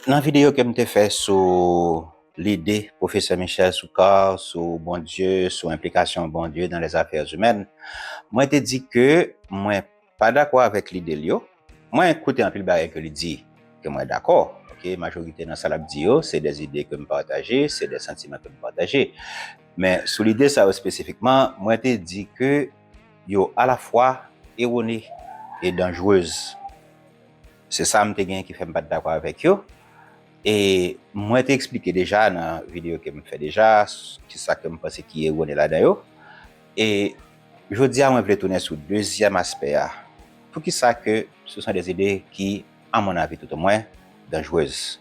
Nan videyo ke m te fè sou lide Pwofesè Michel Soukar sou Bondye, sou enplikasyon Bondye dans les affaires humaines, mwen te di ke mwen pa dakò avèk lide l yo. Mwen koute anpil bagay ke li di ke mwen dakò, ok, majorite nan sa l ap di yo se des idées ke m pataje, se des sentiments ke m pataje. Men sou lide sa yo spesifikman, mwen te di ke yo alafwa erone e danjrez. Se sa m te gen ki fè m pa t dakò avèk yo. E mwen te eksplike deja nan videyo ke m fè deja ki sa ke m panse ki erone ladan yo. E jodi a mwen vle tounen sou dezyèm aspè a, poukisa ke ce sont des idées qui, à mon avis tout au moins, dangereuses.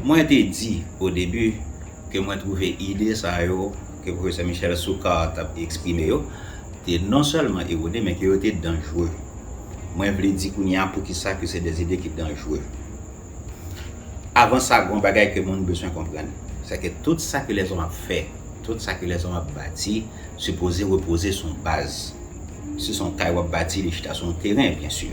Mwen te di, o debi, ke mwen twouve ide sa yo ke Pwofesè Michel Soukar t ap eksprime yo te non sèlman erone men ke yo te danjre. Mwen vle di kounye a poukisa ke se de ide ki danjre. Avan sa, gon bagay ke moun beswen konprann, sè ke tout sa ke lèzòm ap fè, tout sa ke lèzòm ap bati, sipoze repoze sou yon baz. Si s on kay w ap bati, li chita sou yon teren, byen sur.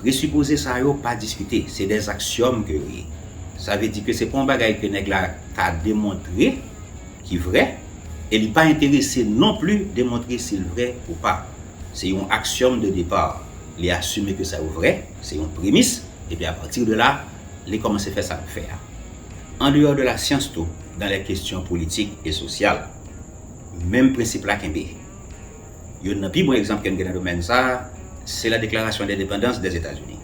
Presupoze sa yo pa diskite, se des axiome ke yo ye. Sa vle di ke se pa yon bagay ke nèg la ka demontre ki vrè, e li pa enterese non pli demontre si l vrè ou pa. Se yon axiome de depart. Li asime ke sa yo vrè, se yon premis, epi a partir de la, li komanse fè sa l ap fè a. An dehors de la science tou, dans les questions politiques et sociales, menm prensip la kenbe. Youn nan pi bon egzanp ke n gen nan domèn sa a, se nan Deklarasyon Endepandans Dèzetazini.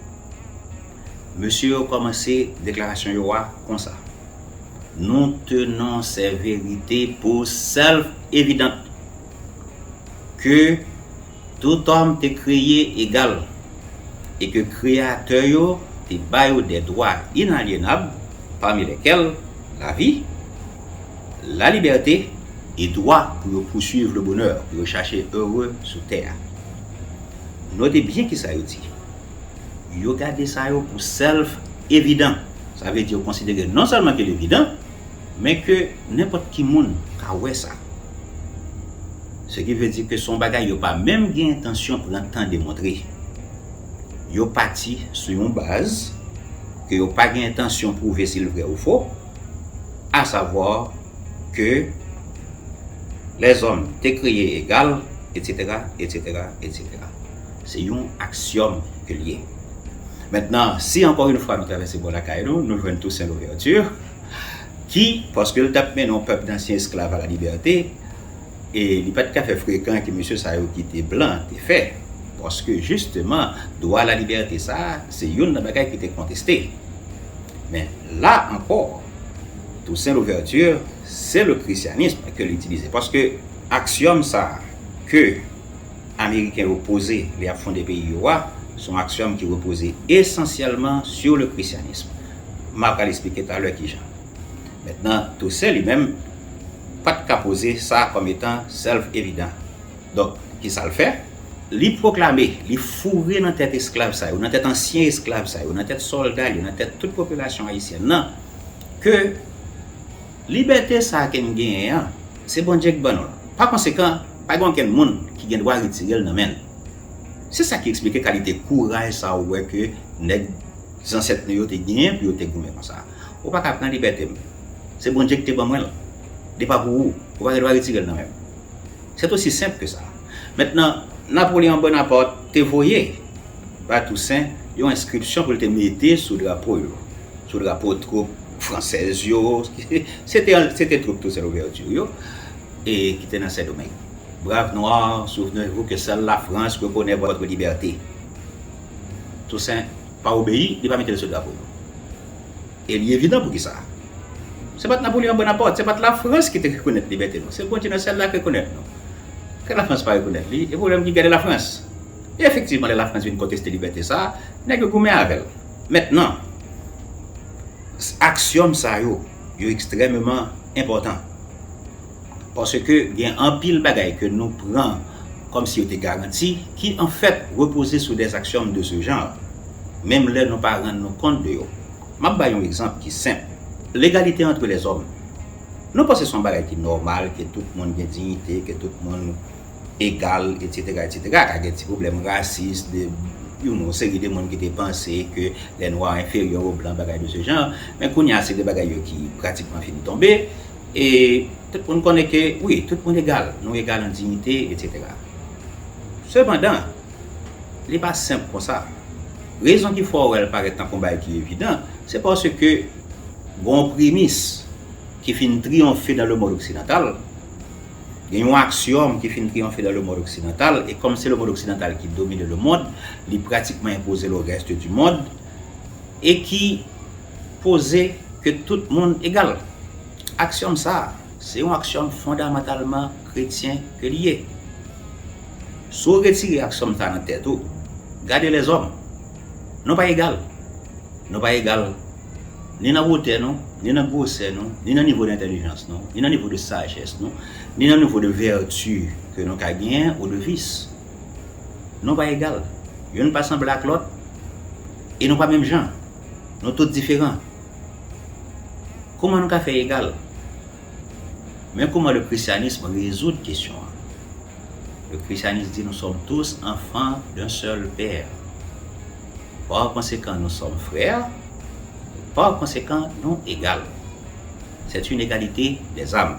Mesye yo kòmanse deklarasyon yo a konsa, Nou tenon sè verite pou self-evident ke tout òm te kreye egal e ke Kreyatè yo te ba yo de dwa inalyenab, pami lèkèl lavi, La liberte e dwa pou yo poursuivre le bonheur, pou yo chache heureux sou tè a. Note byen kisa yo di. Yo gade sa yo pou self evident. Sa vle di yo konsidere non sèlman ke l evidan, men ke nenpòt ki moun ka wè sa. Se ki vle di ke son bagay yo pa menm gen entansyon pran tan demontre. Yo pati sou yon baz ke yo pa gen entansyon pwouve si l vrè ou fo, a savwa ke lèzòm te kreye egal, etsetera, etsetera, etsetera. Se yon aksyòm ke l ye. Mentnan, si ankò yon fwa nou travèse bò lakay nou, nou jwenn Toussaint Louverture ki, paske l t ap mennen yon pèp dansyen esklav a la libète, e li pa t ka fè frekan ke mesye sa yo ki te blan te fè, paske jisteman dwa a la libète sa a se youn nan bagay ki te konteste. Men la ankò, Toussaint Louverture se le christianisme ke l itilize. Paske aksiyòm sa ke Ameriken yo poze lè y ap fonde peyi yo a, se yon aksiyòm ki repoze esansyèlman sur le christianisme. M a pral esplike talè ki jan. Mentnan, Toussaint li menm pa t ka poze sa kòm etan self-evident. Donk, ki sa l fè? Li pwoklame, li foure nan tèt esklav sa yo, nan tèt ansyen esklav sa yo, nan tèt sòlda l yo, nan tèt tout popilasyon ayisyèn nan, ke libète sa a ke n genyen an, se Bondye ki ban nou l. Pa konsekan, pa gen okenn moun ki gen dwa retire l nan men n. Se sa ki esplike kalite kouraj sa a ou wè ke nèg zansèt nou yo te genyen pou yo te goumen konsa a. Ou pa ka pran libète m. Se Bondye ki te ban mwen l. Li pa pou ou. Ou pa gen dwa retire l nan men m. C'est aussi simple que ça. Mentnan, Napoleon Bonaparte te voye bay Toussaint yon enskripsyon pou l te mete sou drapo yo, sou drapo twoup fransèz yo, se te twoup Toussaint Louverture yo, e ki te nan Sendomeng, Braves noirs, souvenez-vous que seule la France reconnaît votre liberté. Toussaint pa obeyi, li pa mete l sou drapo yo. E li evidan pou ki sa. Se pa t Napoleon Bonaparte, se pa t Lafrans ki te rekonèt libète nou. Se Bondye nan syèl la ki rekonèt nou. Ke Lafrans pa rekonèt li, e pwoblèm ki gen de Lafrans. E efektivman lè Lafrans vin konteste libète sa a, nèg yo goumen avè l. Mentnan, aksiyòm sa yo, yo ekstrèmeman enpòtan. Paske gen anpil bagay ke nou pran kòm si yo te garanti, ki anfèt repoze sou dè aksiyòm de se jan, menm lè nou pa rann nou kont de yo. M ap bay yon egzanp ki senp. Legalite antre lèzòm. Nou panse se yon bagay ki nòmal ke tout moun gen dignite, ke tout moun egal, etsetera, etsetera. Ka gen ti pwoblèm rasis de yon seri de moun ki te panse ke lè nwa enferyè o blan, bagay de se jan an. Men kounye a se de bagay yo ki pratikman fin tonbe e tout moun konnen ke wi, tout moun egal. Nou egal an dignite, etsetera. Sepandan. Li pa senp konsa. Rezon ki fè w wè l parèt tankou yon bagay ki evidan, se paske gen yon premis ki fin triyonfe dan lemond oksidantal, gen yon aksiyòm ki fin triyonfe dan lemond oksidantal, e kòm se lemond oksidantal ki domine lemond, li pratikman enpoze l o rèst di mond, e ki poze ke tout moun egal. Aksiyòm sa a. Se yon aksiyòm fondamantalman kretyen ke li ye. Si w retire aksiyòm sa a nan tèt ou, gade lèzòm. Nou pa egal. Nou pa egal ni nan wotè nou, ni nan gwosè nou, ni nan nivo de entèlijans nou, ni nan nivo de sajès nou, ni nan nivo de vèti ke nou ka genyen ou de vis. Nou pa egal. Youn pa sanble ak lòt e nou pa menm jan. Nou tout diferan. Kouman nou ka fè egal? Men kouman le christianisme rezoud kesyon an. Le christianisme di nou sòm tous anfan d'un sèl pè. Par konsekan nou sòm frè, par konsekan nou egal. Sèt yn egalite dèzam.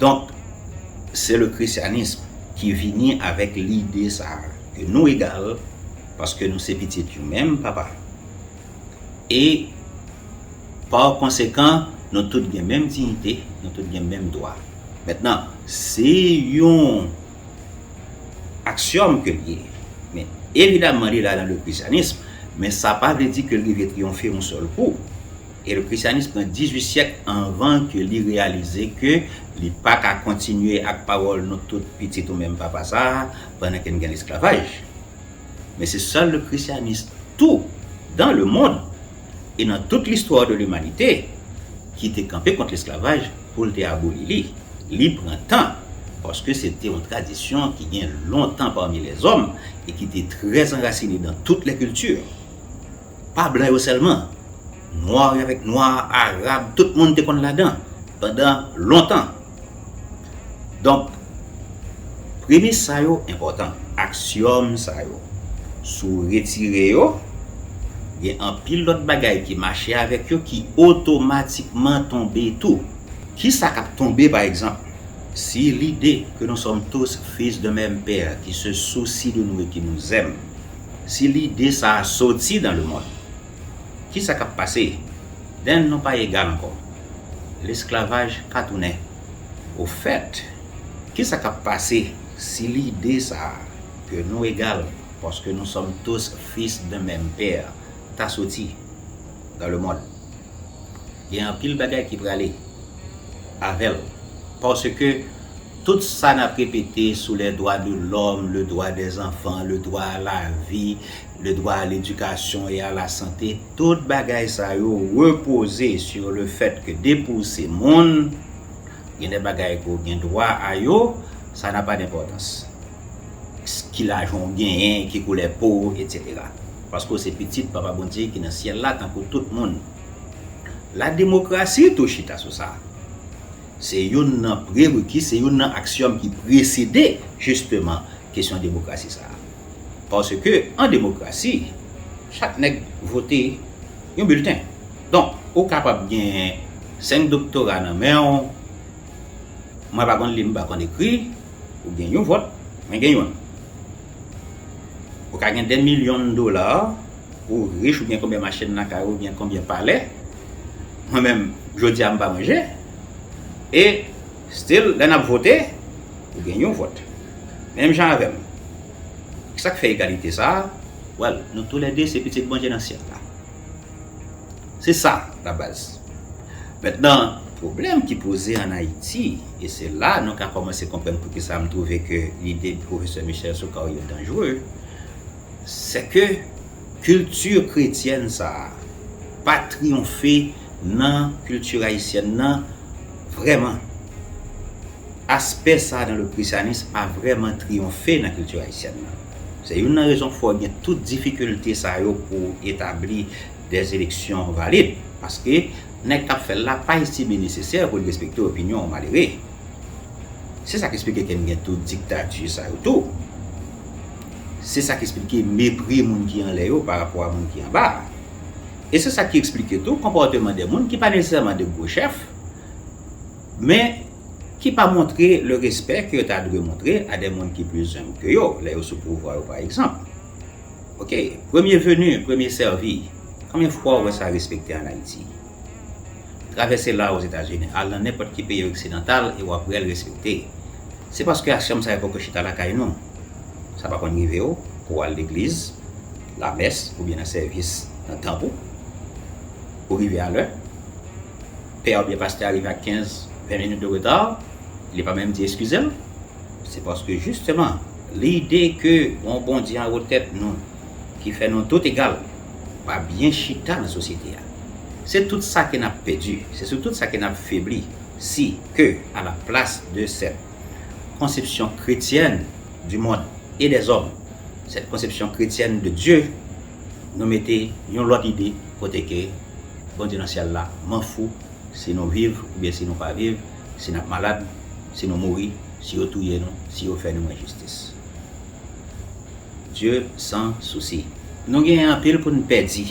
Donk, se le christianisme ki vini avèk lide sa a ke nou egal paske nou se pitit yon menm Papa e par konsekan nou tout gen menm diyite, nou tout gen menm dwa. Mentnan, se yon aksiyòm ke li ye, men evidaman li la nan le christianisme, men sa pa vle di ke l rive triyonfe yon sèl kou. E le Christianisme pran 18 syèk anvan ke li reyalize ke li pa ka kontinye ak pawòl nou tout pitit ou menm papa sa a pandan ke n gen lesklavaj. Men se sèl le Christianisme tou dan le mond e nan tout listwa de limanite ki te kanpe kont lesklavaj pou l te aboli li. Li pran tan paske se te yon tradisyon ki gen lontan pami lèzòm e ki te trè anrasine dan tout lè kilti. Pa blan yo sèlman, nwa yo avèk nwa, arab, tout moun te konn ladan pandan lontan. Donk, premis sa yo enpòtan. Aksyòm sa yo, si w retire yo, gen anpil lòt bagay ki mache avèk yo ki otomatikman tonbe tou. Ki sa k ap tonbe, pa egzanp, si lide que nous sommes tous fils d'un même père qui se soucie de nous et qui nous aime, Si lide sa a soti nan lemonn, ki sa k ap pase? Den, nou pa egal ankò. Lesklavaj ka tounen. Ofèt, ki sa k ap pase si lide sa a, ke nou egal paske nou sòm tous fis d'un mèm pè, ta soti nan lemonn? gen anpil bagay ki prale avè l paske tout sa n ap repete sou lè dwa de lòm, le dwa dè zanfan, le dwa a la vi, le dwa a ledikasyon e a la sante, tout bagay sa yo repoze sou le fèt ke depi w se moun, gen de bagay ke w gen dwa a yo, sa nan pa denpòtans. ki lajan ou genyen, ki koulè po ou, etc. Paske ou se pitit Papa Bondye ki nan syèl la tankou tout moun. Lademokrasi tou chita sou sa. Se youn nan prereki, se youn nan aksyòm ki presede jisteman kesyon demokrasi sa a. Paske an demokrasi, chak nèg vote yon bilten. Donk, ou kapab gen senk doktora nan men ou, mwen pa konn li, m pa konn ekri, Ou gen yon vòt, mwen gen yonn. Ou ka gen dè milyon dola, ou rich, ou gen konbyen machin lakay ou, ou gen konbyen palè, mwen menm jodi a m pa manje, e still lè n ap vote, ou gen yon vòt. Menm jan avè m. Ki sa k fè egalite sa a? Well, nou toulède se pitit Bondye nan syèl la. Se sa labaz. Mentnan, pwoblèm ki poze an Ayiti, e se la nou ka kòmanse konprann poukisa m twouve ke lide Pwofesè Michel Soukar yo danjre, sè ke kilti kretyèn sa a pa triyonfe nan kilti ayisyèn nan vrèman. Aspè sa a nan le Krisyanis pa vrèman triyonfe nan kilti ayisyèn nan. Se youn nan rezon fè w gen tout difikilte sa yo pou w etabli des élections valides paske nèg kap fèl la pa estime nesesè poul respekte opinyon yon malere se sak esplike ken gen tout diktati sa yo tou se sak esplike mepri moun ki anlè yo pa rapò a moun ki anba a e se sak ki esplike tou konpòteman de moun ki pa nesesèman de gwo chèf men ki pa montre le respè ke yo ta dwe montre a de moun ki plis enb ke yo lè yo sou pouvwa yo pa egzanp. Ok premye venu premye sèvi konbyen fwa ou wè sa respekte an Ayiti? Travèse la Ozetazini al nan nenpòt ki peyi oksidantal e wap wèl respekte. Se paske asyom sa yo poko chita lakay nou. Sa pa konn rive w pou w al legliz, lamès oubyen nan sèvis nan tanp ou? Ou rive a lè? Pè oubyen pastè a rive ak 15, 20 minit de reta, li pa menm di eskize l? Se paske jisteman lide ke yon Bondye anwo tèt nou ki fè nou tout egal pa byen chita nan sosyete a. Se tout sa ke nap pèdi, se sou tout sa ke nap febli si ke a la plas de sèt konsepsyon kretyèn di mond e dè zòm, sèt konsepsyon kretyèn de Dye, nou mete yon lòt ide kote ke Bondye nan syèl la manfou si nou viv oubyen si nou pa viv, Si nap malad, si nou mouri, si yo touye nou, si yo fè nou enjistis. Dieu san sousi. Nou gen anpil pou n pèdi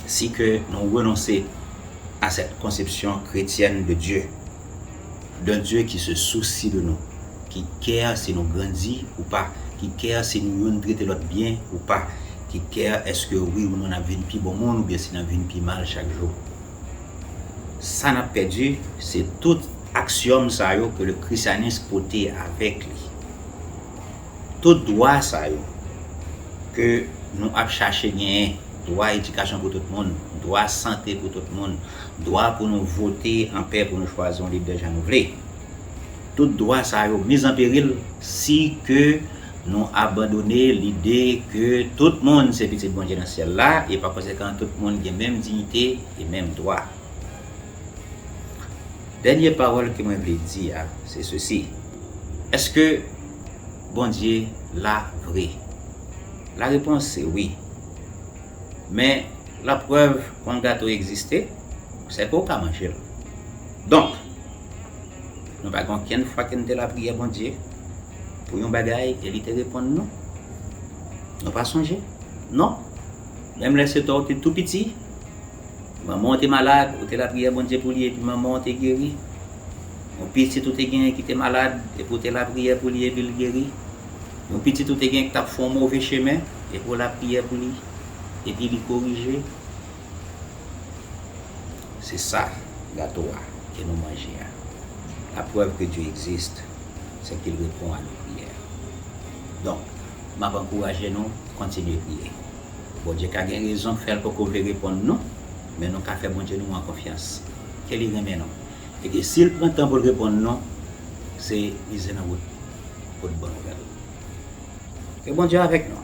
si ke nou renonse a sèt konsepsyon kretyèn de Dieu, d'un Dieu ki se sousi de nou, ki kè si nou grandi ou pa, ki kè si nou youn trete lòt byen ou pa, ki kè eske wi ou non nap vin pi bon moun oubyen si nap vin pi mal chak jou. Sa nap pèdi, se tout aksiyòm sa yo ke le Krisyanis pote avèk li. Tout dwa sa yo ke nou ap chache genyen, dwa edikasyon pou tout moun, dwa sante pou tout moun, dwa pou nou vote an pè pou nou chwazi yon lidè jan nou vle. Tout dwa sa yo miz an peril si ke Nou abandone lide ke tout moun se pitit Bondye nan syèl la e pa konsekan tout moun gen menm diyite e menm dwa. Dènye pawòl ke mwen vle di a se sesi, Èske Bondye la vre? La repons se wi. Men, la prèv kon gato egziste, se ke w ka manje l. Donk, nou pa gen okenn fwa ke nou te lapriyè Bondye. pou yon bagay e li te reponn nou? Nou pa sonje? Non? Menm lè Seta w te tou piti, manman w te malad, ou te lapriyè Bondye pou li epi manman w te geri? Yon pitit ou te genyen ki te malad epi w te lapriyè pou li epi l geri? Yon pitit ou te genyen ki t ap fè yon move chemen epi w lapriyè pou li epi li korije? Se sa, gato a, ke nou manje a. La preuve que Dieu existe, se ke l repon a nou priyè. Donk, m ap ankouraje nou kontinye priye. Bondye ka gen rezon fè l poko vle reponn nou, men nou ka fè Bondye nou an konfyans, ke li renmen nou, e ke si l pran tan pou l reponn nou, se mize nan wout pou l ban nou bèl. Ke Bondye avèk nou!